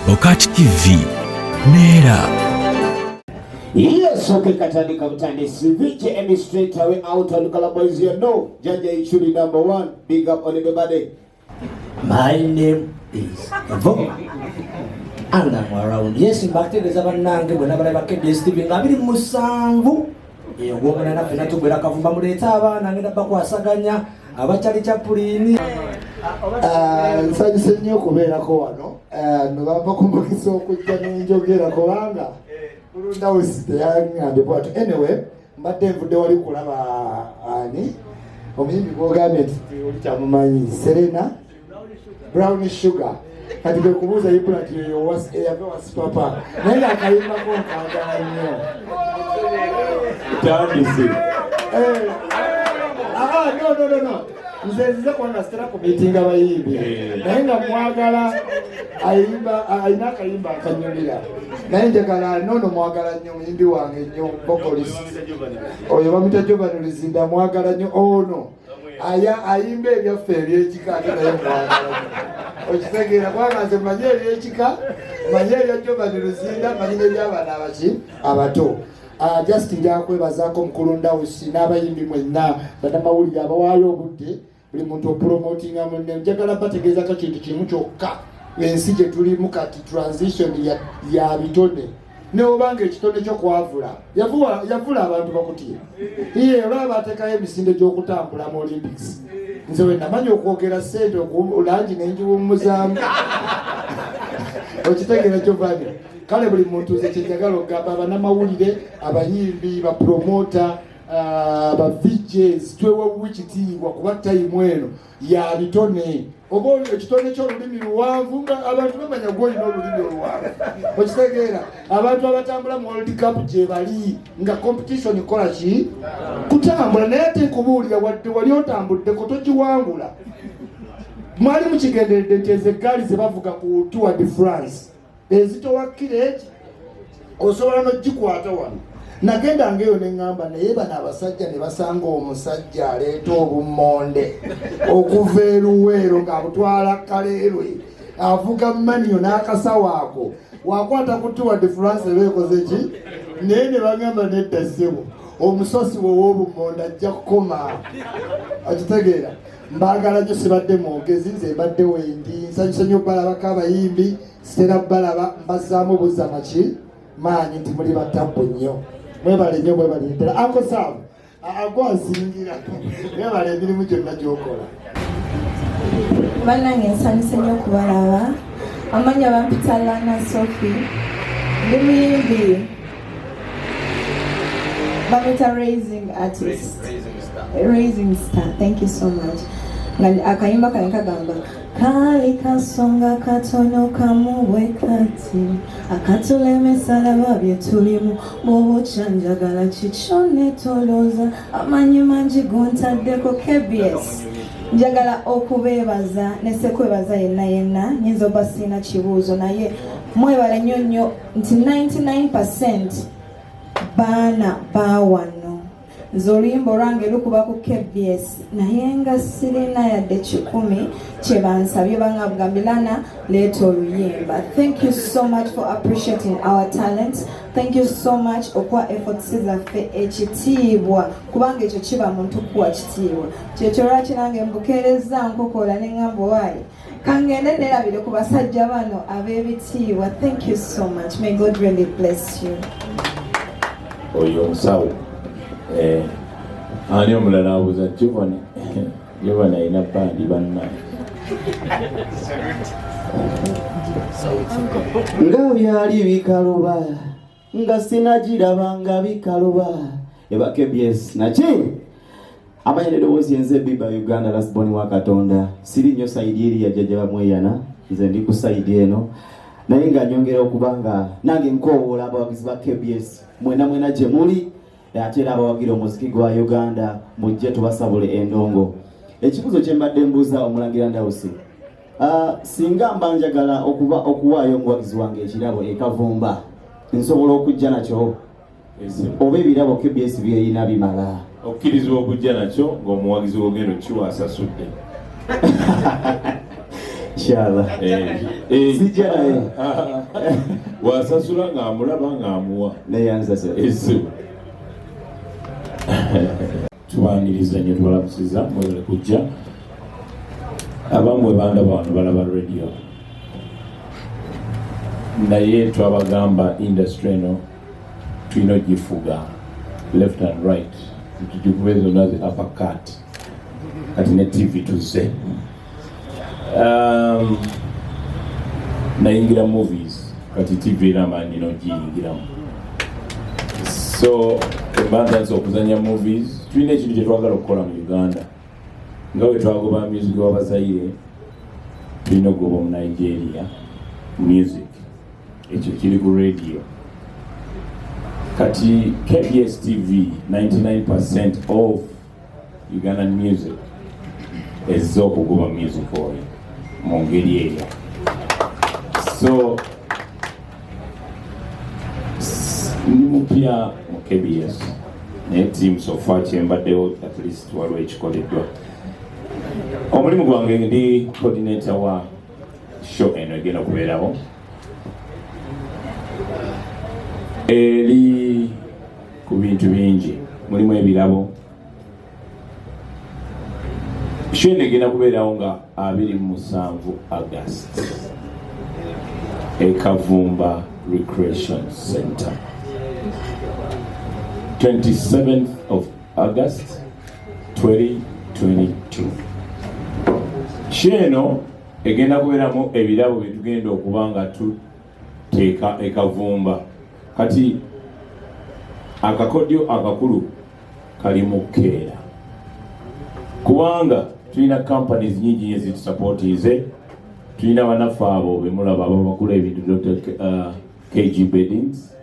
Bokati TV neera Yes, okay, katandika butandisi Vicky Emi straight away out on Color Boys, you know Jaja Ichuli number one, big up on everybody My name is Evoka. And I'm around. Yes, mbategeeza bannange bwe nabala ba KBS TV nga abiri musanvu ogwomana naffe natugwera kavumba muleete abaana ngenda bakwasaganya abakyali chapuliini ah, nsanyuse nnyo okubeerako wano ah, nobamba kumukisa okujja nenjogera kubanga bulundawesi teyaŋambye bwatu anyway mbadde nvudde wali kulaba ani omuyimbi gwogambye nti oli kyamumanyi serena brown sugar kati kwe kubuuza yibula nti eyo eyave wasipapa naye nga akayimbako nkagala nnyo tandise eh, ah, ah, no, no, no, no. nze nzize kuba nga sitera ku miitinga bayimbi naye nga mwagala ayimba alina akayimba akanyumira naye njagala nono mwagala nnyo muyimbi wange nnyo bokolis oyo bamita jovani luzinda mwagala nnyo ono aya ayimba ebyaffe ebyekika ate naye mwagala okitegeera kubanga nze manyi ebyekika manyi ebya jovani luzinda manyi nebyabana abaki abato Ah, just nja kwebazaako mukulu ndawusi n'abayimbi mwenna banamawulire abawaayo obudde buli muntu opromotinga munne njagala bategeezako kintu kimu kyokka ensi gye tulimu kati transition ya bitone newobanga ekitone kyo kwavula yavula abantu bakutye iye olaba atekayo emisinde gy'okutambula mu olympics nze wenamanya okwogera sente langi nenjiwumuzaamu okitegeera kyovanya kale buli muntu nze kyenjagala okugamba abanamawulire abayimbi bapromota ah, ba vijs twewewuwa ekitiibwa kuba tayimu eno ya bitone oba ekitone kyolulimi luwanvu nga abantu bamanya gwe olina olulimi oluwanvu okitegeera abantu abatambula mu world cup gyebali nga competition kola ki kutambula naye ate nkubuulira wadde wali otambuddeko togiwangula mwali mukigenderedde nti ezo eggaali zebavuga ku tour de france ezitowa kireki osobola nogikwata wano nagenda ngaeyo neŋamba naye bano abasajja ne basanga omusajja aleeta obummonde okuva eruweero ng'abutwala kaleerwe avuga maniyo n'akasawo ako wakwata kutuwadde france eba ekoze ki naye ne bagamba nedda ssebo omusosi wew'obummonde ajja kukoma akitegeera mbaagala nyo sibadde mwogezi nze mbadde wendi nsanyuse nyo balabako abayimbi sitera balaba mbazaamu buza maki maanyi nti muli batabbu nnyo mwebale nyo mwebale ddala akosaabu agwazingira mwebale emirimu gyonna gyokola banange nsanyuse nyo kubalaba amanya bampita lana sofi ndi muyimbi bamuyita raising artist raising star thank you so much akayimba kali kagamba kali kasonga katono kamubwe kati akatulemesalaba byetulimu mubukyanjagala kikyo netolooza amanyi mangi gontaddeko kbs njagala okubeebaza nesekwebaza yenna yenna nyinza oba siina kibuuzo naye mwebale nnyo nnyo nti 99% baana bawano nze oluyimba olwange lukuba ku kbs naye nga sirina yadde kikumi kyebansabye bangabga milana leeta oluyimba thank you so much for appreciating our talent thank you so much okuwa efforts zaffe ekitiibwa kubanga ekyo kiba muntu kuwa kitiibwa kyekyo lwaki nange mbukeerezza nkokola ne ngamba waayi kangende nerabire ku basajja bano ab'ebitiibwa thank you so much may god really bless you oyo omusawo eh, ani omulala abuuza jovani jovani alina bandi banna nga byali bikaluba nga sinagiraba nga bikaluba eba kbs naki amanya nedowoozi enze biba uganda lasbon wa katonda siri nnyo saidi eri yajjaja bamweyana nze ndi ku saidi eno naye nga nyongera okuba nga nange nkoowoola abawagizi ba kbs mwena mwena gye muli naye ate era abawagira omuziki gwa uganda mujje tubasabule endongo ekibuzo kyembadde mbuuza omulangira ndawusi ah, singa mba njagala okuba okuwaayo omuwagizi wange ekirabo ekavumba nsobola okujja nakyo oba ebirabo kbs byeyina bimala okkirizibwa okujja nakyo ngaomuwagizi wogenda okiwa asasudde Inshallah. Eh, eh, Sijja naye. Wasasula ng'amulaba ng'amuwa. Naye ansasula. Ese. Tubaniriza nnyo tubalabusiza mwebale kujja. Abamwe banda bantu balaba radio. Naye twabagamba industry eno tulina ogifuga left and right. Tugivuba ezo nazi uppercut. kati ne tv tuzze um, nayingira movies kati tv era amaanyi nogiyingiramu so embantansi okuzanya movies tulina ekintu kyetwagala okukola mu uganda nga wetwagoba music wabazayire tulina okugoba mu nigeria music ekyo kiri ku radio kati kbs tv 99 of Ugandan music ezze okuguba music oyo mu ngeri eyo so ndi mupya mu kbs naye tiimu sofa kyembaddewo at least waliwo ekikoleddwa omulimu gwange ndi coordinator wa show eno egenda okubeerawo eri ku bintu bingi mulimu ebirabo shene egenda kubeerawo nga abiri mu musanvu agast ekavumba recreation center 27th of august 2022 sheeno egenda kubeeramu ebirabo byetugenda okuba nga teeka ekavumba kati akakodyo akakulu kali mu keera kubanga tulina companies nyingi nyo zitusapootiize tulina banaffe abo bemulaba ababakula ebintu dr uh, kg beddings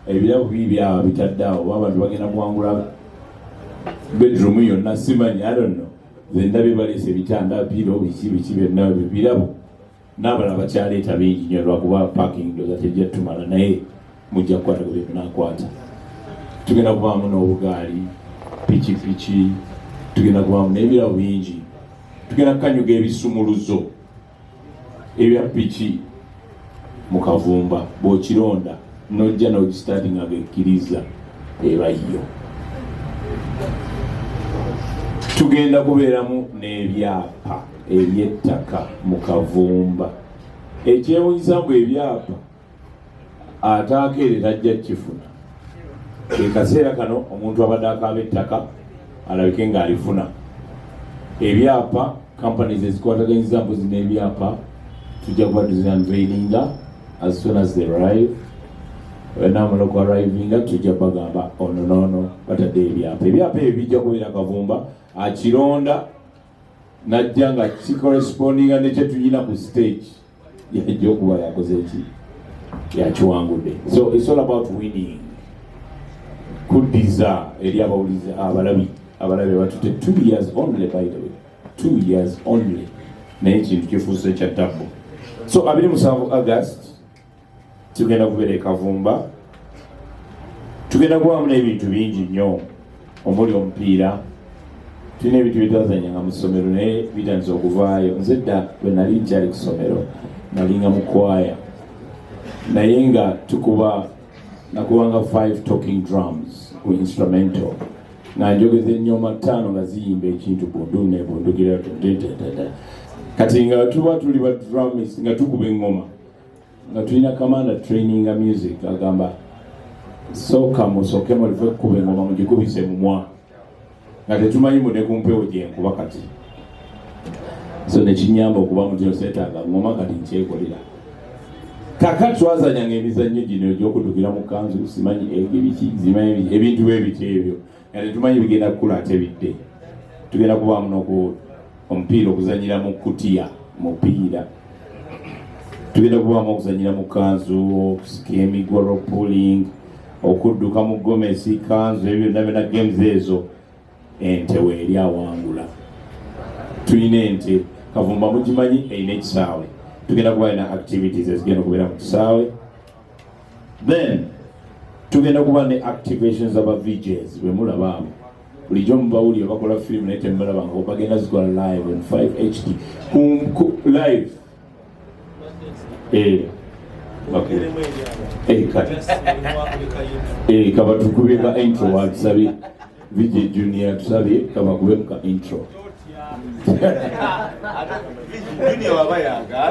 ebirabo bii byaba bitadde awo oba abantu bagenda kuwangula bedroom yonna simanyi i don't know zendabye baleese ebitanda biro biki biki byonna ebyo birabo n'abalala bakyaleeta bingi nyo lwakuba parking doza tejja tumala naye mujja kukwata ku byemunakwata tugenda kubaamu n'obugaali pikipiki tugenda kubaamu n'ebirabo bingi tugenda kukanyuga ebisumuluzo ebya piki mu kavumba bw'okironda n'ojja n'ogisitaati nga gekkiriza eba yo tugenda kubeeramu n'ebyapa eby'ettaka mu kavumba ekyewunyisa mbu ebyapa ataako ere tajja kifuna ekaseera kano omuntu abadde akaaba ettaka alabike ng'alifuna ebyapa kampani zezikwataganyiza mbuzi n'ebyapa tujja kuba tuzinanveininga as soon as they arrive namuloko arrivinga tujja bagamba ono noono batadde ebyapa ebyapa ebyo bijja kubeera kavumba akironda najja nga kikorespondinga nekyetuyina ku stage yajja okuba yakoze ki yakiwangudde so its all about winning kuddiza eri abawulizi abalabi abalabi batute two years only by the way two years only naye ekintu kifuuse kya tabbu so abiri musanvu august tugenda kubeera ekavumba tugenda kubamu n'ebintu bingi nnyo omuli omupiira tulina ebintu byetwazanyanga mu ssomero naye bitandisa okuvaayo nze dda bwe nali nkyali ku ssomero nalinga mukwaya naye nga tukuba nakubanga five talking drums ku instrumental nga njogeza ennyoma ttaano nga ziyimba ekintu bundu nebundugira kati nga tuba tuli ba drumis nga tukuba engoma nga tulina kamanda training music agamba sooka musooke mulive kukuba engoma mugikubise mumwa nga tetumanyi mune ku mpewo gyenkuba kati so nekinyamba okuba mutino setaaga ngoma kati nkyekolera kaka twazanyanga emizannyo gino egyokutukira mu kanzu simanyi ebiki zimanyi ebintu bwebiti ebyo nga tetumanyi bigenda kukula ate bidde tugenda kubaamu noku omupiira okuzanyira mu kutiya mupiira tugenda kubaamu okuzanyira mu kanzu okusika emigolo puling okudduka mu gomesi kanzu ebyo byonna byona games ezo ente weeri awangula tulina ente kavumba mugimanyi erina ekisaawe tugenda kuba lina activities ezigenda okubeera mu kisaawe then tugenda kuba ne activation za ba VJs bwe mulaba abo bulijjo mubawulira bakola firimu naye temubalaba nga bagenda zikola live in 5 HD ku live eh okay eh kati eh kabatukubye ka intro wa sabi VJ Junior tusabye kabakube muka intro Junior baba yanga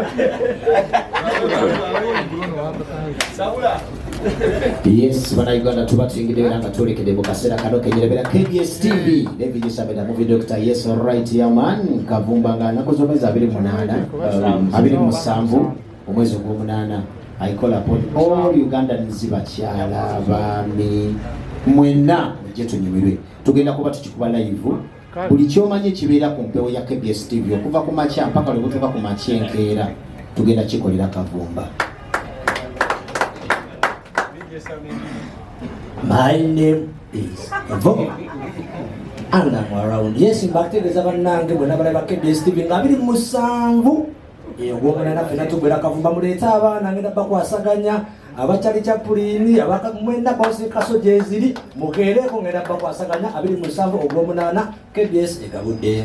Saula yes banauganda tuba tuyingidde era nga twolekede mu kaseera kano kenyerabera kbs tv nevigisabera muvi dr yes right yaman kavumba nga anaku zomezi abiri munaana um, abiri musanvu omwezi ogwomunaana I call upon all Ugandans bakyala baami mwenna mujje tunyumirwe tugenda kuba tukikuba live buli kyomanyi ekibeera ku mpewo ya KBS TV okuva ku makya mpaka lwe butuuka ku makya enkeera tugenda kikolera kavumba My name is Evo. And I'm around. Yes, mbategeeza bannange bwe nabalaba KBS TV nga biri musanvu ogwomulana eh, fena tugwera kavumba muleete abaana ngenda bakwasaganya abakyali kyapuliini mwena bosi kaso gyeziri mukeereko ngenda bakwasaganya abiri musanvu ogwomunaana kbs egabudde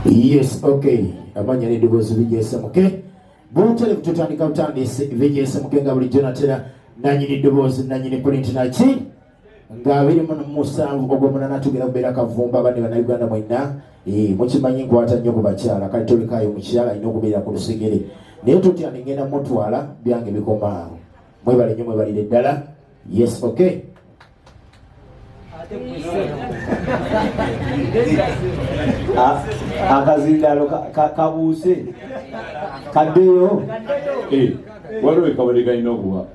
yes okay amanya n'eddoboozi bigyesa muke butere bututandika butandisi bigyesa muke nga bulijjo natera nanyini ddoboozi nanyini pulinti naki nga abiri mu musanvu ogwomunana tugenda kubeera kavumba abandi bannayuganda mwenna eh, mukimanyi nkwata nnyo ku bakyala kati tolekaayo mukyala alina okubeera ku lusegere naye totya nengenda mutwala byange bikomaawo mwebale nnyo mwebalire ddala yes okay ah, akazindalo kabuuse kaddeyo eh, waliwo ekabade kalina okuba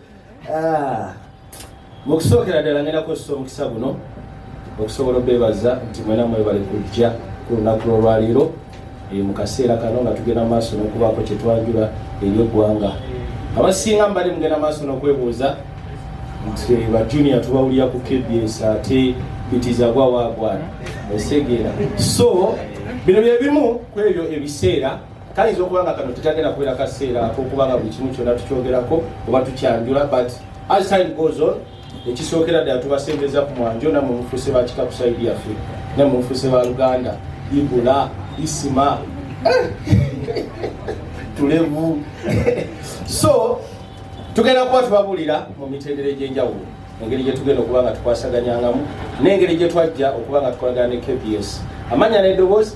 Ah, mu kusookera ddala ngenda kukozesa omukisa guno okusobola obeebaza nti mwena mwebale kujja ku lunaku lw'olwaliiro eh, mu kaseera kano nga tugenda maaso n'okubaako kye twanjula eri eggwanga abasinga mbali mugenda maaso n'okwebuuza nti eh, bajunior tubawulira ku kbs ate bitiza gwawaagwana osegeera so bino bye bimu ku ebyo ebiseera kayinza okuba nga kano tekagenda kubeera kaseera akokuba nga buli kimu kyonna tukyogerako oba tukyanjula but as time goes on ekisookera ddala tubasembeza ku mwanjo namwe mufuuse ba kika ku saidi yaffe namwe mufuuse ba luganda ibula isima tulevu so tugenda kuba tubabulira mu mitendera egyenjawulo engeri gyetugenda okuba nga tukwasaganyangamu n'engeri gyetwajja okuba nga tukolagana ne kbs amanya nedoboozi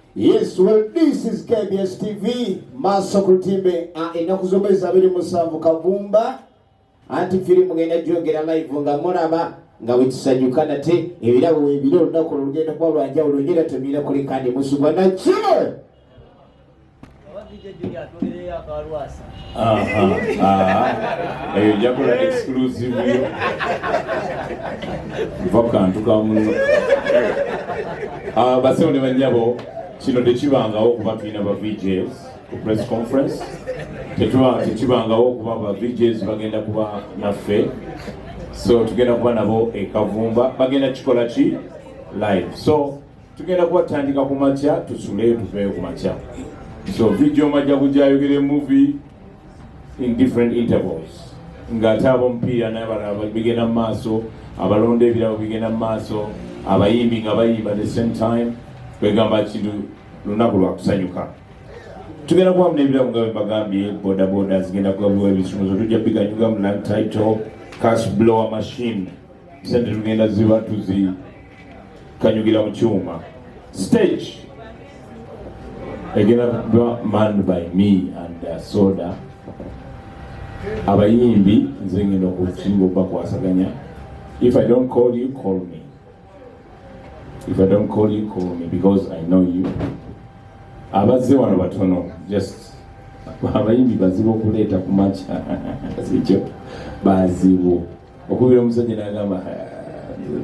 Yes, well, this is KBS TV, Maso Kutimbe, ah, enaku zomba ezabiri musanvu kavumba, anti filimu ngenda jogera live nga muraba, nga wetusanyuka nate, ebirabo webire olunaku olugenda kuba lwanjawulo ngera tumira kuli kandi musubwa na kino. eyo jakola exclusive yo nva kukantu kamuno ah, basewo ne banyabo kino tekibangawo okuba tulina ba vjs ku press conference tekibangawo okuba ba vjs bagenda kuba naffe so tugenda kuba nabo ekavumba bagenda kikola ki live so tugenda kuba tutandika ku makya tusule tuveeyo ku makya so vidio majja kujayogere movie in different intervals ng'ate abomupiira nabalaba bigenda mu maaso abalonda ebirabo bigenda mu maaso abayimbi nga bayimba the same time kwegamba kintu lunaku lwakusanyuka tugenda kubamu n'ebirabo nga bembagambye bodaboda zigenda kugabuwa ebisumuzo tujja biganyugamu lang title cash blower machine sente tugenda ziba tuzikanyugira mu kyuma stage egenda kuba man by me and uh, soda abayimbi nze ngenda okusinga okubakwasaganya if i don't call you call me if i don't call you call me because i know you abazze wano batono just abayimbi bazibu okuleeta ku makya sikyo bazibu okubira omusajja nagamba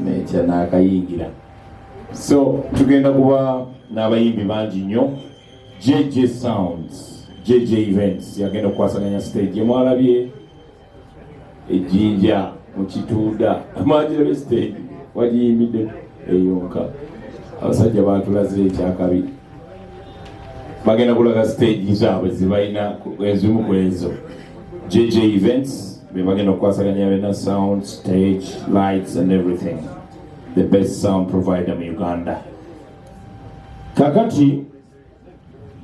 nekya nakayingira so tugenda kuba n'abayimbi bangi nnyo jj sounds jj events yagenda okukwasaganya stage emwalabye ejjinja mukituuda mwagirabye stage wagiyimbidde eyonka abasajja batulaze ekyakabi bagenda kulaga stage zaabwe zibalina ezimu ku ezo jj events bebagenda okukwasaganya bena sound stage lights and everything the best sound provider mu uganda kakati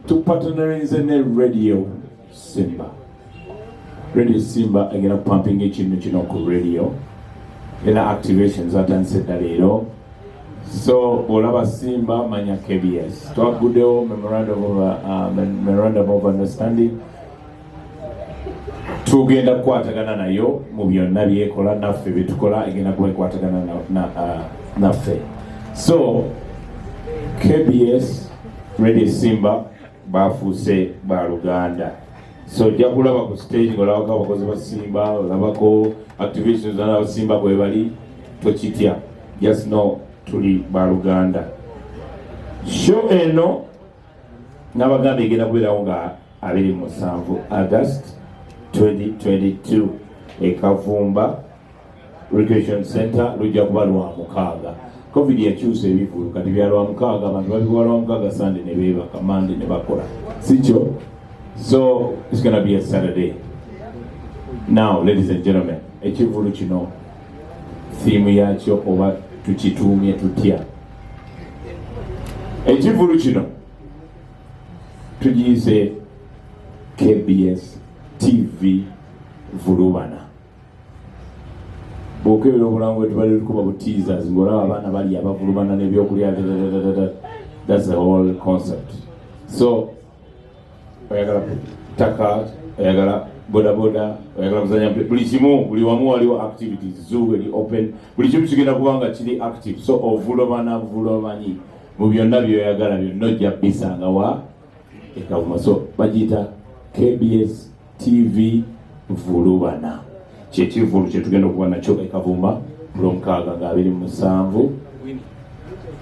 tupatanerinze ne radio Simba radio Simba egenda kupampinga ekintu kino ku radio era activation zatandise dda leero so bw'olaba Simba manya KBS twaggudewo memorandum of, uh, memorandum of understanding tugenda kukwatagana nayo mu byonna byekola naffe byetukola egenda kuba ekwatagana uh, naffe so KBS Radio Simba baafuuse ba luganda so ojja kulaba ku stage ngolabako abakozi ba simba olabako activision zona abasimba kwebali tokitya just know tuli ba luganda sho eno nabagamba egenda kubeerawo nga abiri musanvu agust 2022 ekavumba Recreation Center lujja kuba lwa mukaaga covid yakyusa ebivulu kati bya lwa mukaaga abantu babikuba lwa mukaaga sande ne beebaka mande ne bakola sikyo so it's gonna be a saturday now ladies and gentlemen ekivulu kino thiimu yakyo oba tukituumye tutya ekivulu kino tugiyize kbs tv vulubana bwokebera obulango wetubali lukuba bu teasers ngolaba abaana bali abavulumana nebyokulya that's the whole concept so oyagala taka oyagala bodaboda oyagala kuzanya buli kimu buli wamu waliwo activities zoo eli open buli kimu kigenda kuba nga kiri active so ovulobana vulobanyi mu byonna byoyagala byonna ojja bisangawa ekavuma so bagiyita kbs TV Vulubana kyekivulu kyetugenda okuba nakyo ekavuma kulomukaaga nga abiri musanvu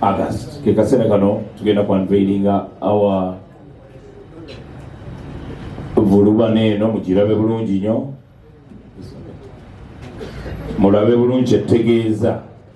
August kekaseera kano tugenda ku unveilinga awa Vulubana eno mugirabe bulungi nyo mulabe bulungi kyetegeeza